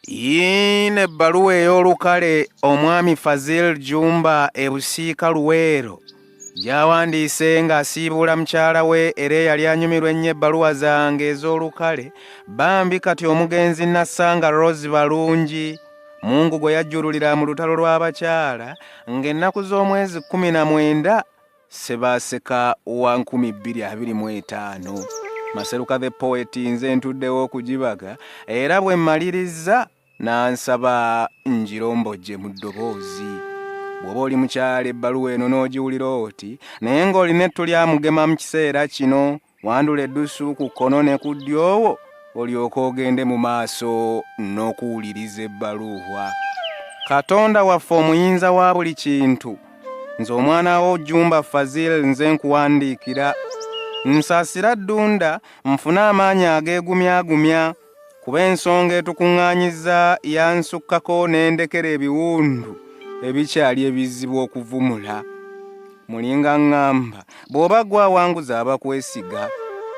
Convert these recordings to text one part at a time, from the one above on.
yiino ebbaluwa ey'olukale omwami fazil jumba ebusiika luweero gyawandiise ng'asiibuula mukyala we era eyali anyumirwa ennyo ebbaluwa zange ez'olukale bambi kati omugenzi nassanga rose balungi mungu gwe yajjululira mu lutalo lw'abakyala ng'ennaku z'omwezi kkumi na mwenda Ssebaaseka wa nkumi bbiri abiri mu etaano Maseruka the poet nze ntuddewo okugibaga era bwe mmalirizza n'ansaba ngirombojje mu ddoboozi bw'oba oli mukyala ebbaluwa eno n'ogiwulira oti naye ng'olina ettu lyamugema mu kiseera kino wandula eddusu ku kkono ne ku ddyowo olyoke ogende mu maaso n'okuwuliriza ebbaluuhwa katonda waffe omuyinza wa buli kintu nze omwana wo jumba fazil nze nkuwandiikira nsasira ddunda nfune amaanyi ageegumyagumya kuba ensonga etukuŋŋaanyiza yansukkako n'endekera ebiwundu ebikyali ebizibu okuvumula mulinga ŋŋamba bw'oba gwe awanguza abakwesiga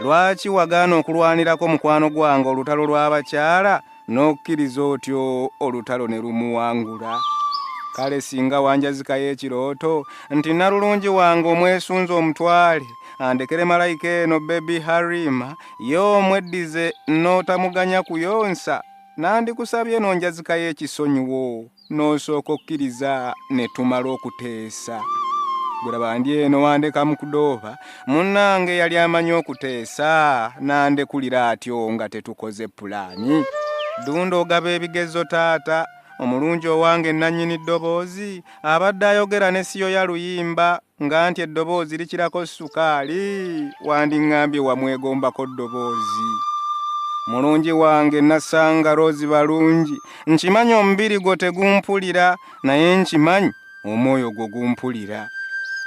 lwaki wagaana okulwanirako mukwano gwange olutalo lw'abakyala n'okkiriza otyo olutalo ne lumuwangula kale singa wanjazikayo ekirooto nti nalulungi wange omwesunza omutwale andekere malayika eno bebi harima ye omweddize n'otamuganya kuyonsa nandikusabye n'onjazikayo ekisonyiwo n'osooka okkiriza ne tumala okuteesa gulaba ndi eno wandeka mu kudooba munnange yali amanyi okuteesa nandekulira atyo nga tetukoze pulaani dunda ogaba ebigezo taata omulungi owange nannyini ddoboozi abadde ayogera ne siyo ya luyimba nga nti eddoboozi likirako sukaali wandiŋŋambye wamwegombako ddoboozi mulungi wange nasanga roozi balungi nkimanyi omubiri gwo tegumpulira naye nkimanyi omwoyo gwo gumpulira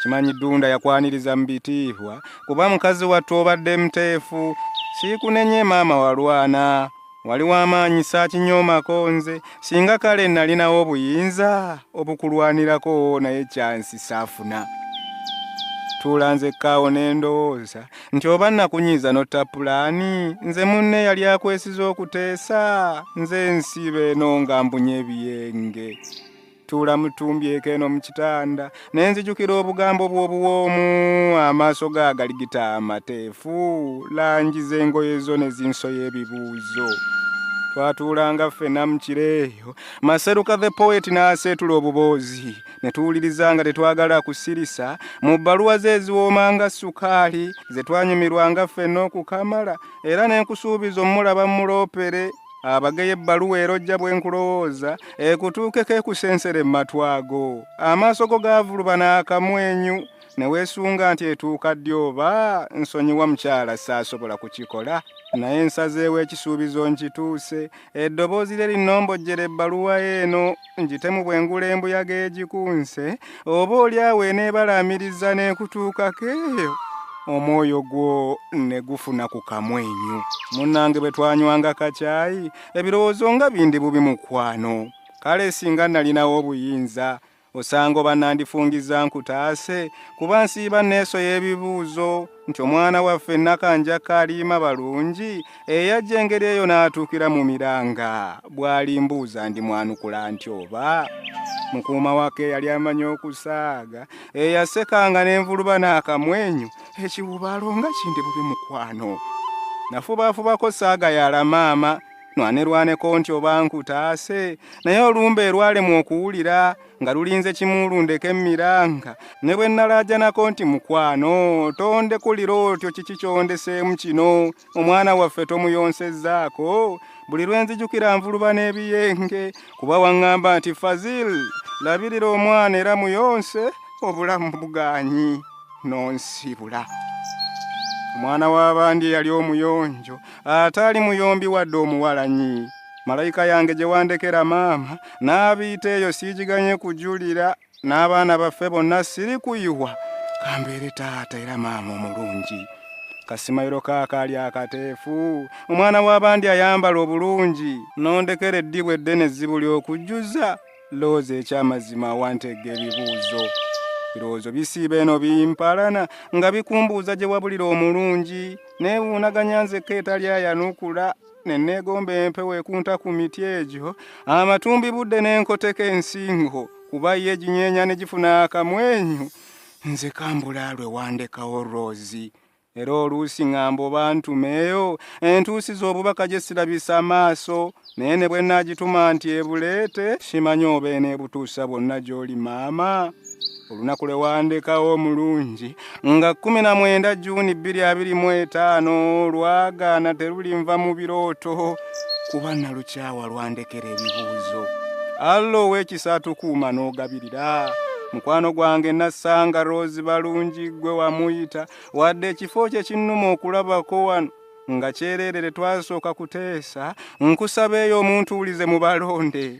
kimanyi ddunda yakwaniriza mu bitiihwa kuba mukazi wattu obadde muteefu siikunenye maama walwana wali w'amaanyi saakinyoomako nze singa kale nnalinawo obuyinza obukulwanirako naye kyansi saafuna tuula nze kaawo ne ndowooza nti oba nnakunyiiza notta pulaani nze munne yali akwesiza okuteesa nze ensiiba eno nga mbunye ebiyenge tuula mutumbyeko eno mu kitanda ne nzijukira obugambo bw'obuwoomu amaaso ga galigita amateefu langi z'engoye zo ne zinsoya ebibuuzo twatuulanga ffena mu kiro eyo maseruka the poet n'aseetula obuboozi ne tuwuliriza nga tetwagala kusirisa mu bbaluwa ze eziwooma nga sukaali ze twanyumirwanga ffena okukamala era ne nkusuubiza omulaba muloopere abageye ebbaluwa erojja bwe nkulowooza ekutuukeko ekusensere mu matwago amaaso go gaavuluba n'akamwenyu ne weesunga nti etuuka ddi oba nsonyiwa mukyala saasobola kukikola naye nsazeewo ekisuubizo nkituuse eddoboozi lye linnombojjera ebbaluwa eno ngitemu bwe ngula embuyaga egikunse oba oli awo eneebalaamiriza n'ekutuukako eyo omwoyo gwo ne gufuna ku kamwenyu munnange bwe twanywanga kakyayi ebirowoozo nga bindi bubi mukwano kale singa nalinawo obuyinza osanga oba nandifungiza nkutaase kuba nsiiba neeso y'ebibuuzo nti omwana waffe nakanja kaliima balungi eyajja engeri eyo n'atuukira mu miranga bw'alimbuuza ndi mwanukula nti oba mukuuma wake yali amanyi okusaaga eyasekanga n'envuluba n'akamwenyu ekiwubaalo nga kindi bubi mukwano nafubaafubako saaga yala maama nwanirwaneko nti oba nkutaase naye olumba erwalemwa okuwulira nga lulinze kimu lundeka emiranga ne bwe nnalaajanako nti mukwano tondekulira otyo kiki kyondeseemu kino omwana waffe tomuyonsezzaako buli lwe nzijukira nvuluba n'ebiyenge kuba waŋŋamba nti fazil labirira omwana era muyonse obulamu bugaanyi n'onsibula omwana w'abandi eyali omuyonjo ataali muyombi wadde omuwalanyi malayika yange gye wandekera maama n'abiita eyo siigiganye kujulira n'abaana baffe bonna siri kuyiwa kambeere taata era maama omulungi kasimayiro kaakaali akateefu omwana w'abandi ayambala obulungi n'ondekera eddibu eddene ezzibu ly'okujjuza looza eky'amazima awanteega ebibuuzo ebirowoozo bisiiba eno bimpalana nga bikumbuuza gye wabulira omulungi neewuunaganya nzekka etali ayanukula ne neegomba empewo ekunta ku miti egyo amatumbi budde n'enkoteka ensingo kuba ye eginyeenya ne gifuna akamwenyu nze kambula lwe wandekawo roozi era oluusi ŋŋamba oba ntumeeyo entuusi z'obubaka gye sirabisa amaaso naye ne bwe nnaagituma nti ebuleete simanyi oba eneebutuusa bwonna gy'oli maama olunaku lwe wandekawo omulungi nga 19 juuni 225 lwagaana terulinva mu birooto kuba nalukyawa lwandekera ebibuuzo alla ow'ekisa atukuuma n'ogabirira mukwano gwange nassanga rose balungi gwe wamuyita wadde ekifo kye kinnuma okulabako wano nga kyereerere twasooka kuteesa nkusaba eyo omuntu wulize mu balonde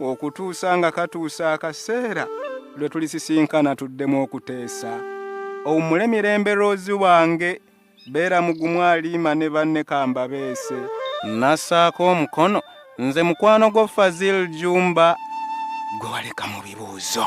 okutuusa nga katuusa akaseera lwe tulisisinkana tuddemu okuteesa owummule mirembe loozi wange beera mugumu aliima ne banne kambabeese nassaako omukono nze mukwano gwo fazil jumba gwe waleka mu bibuuzo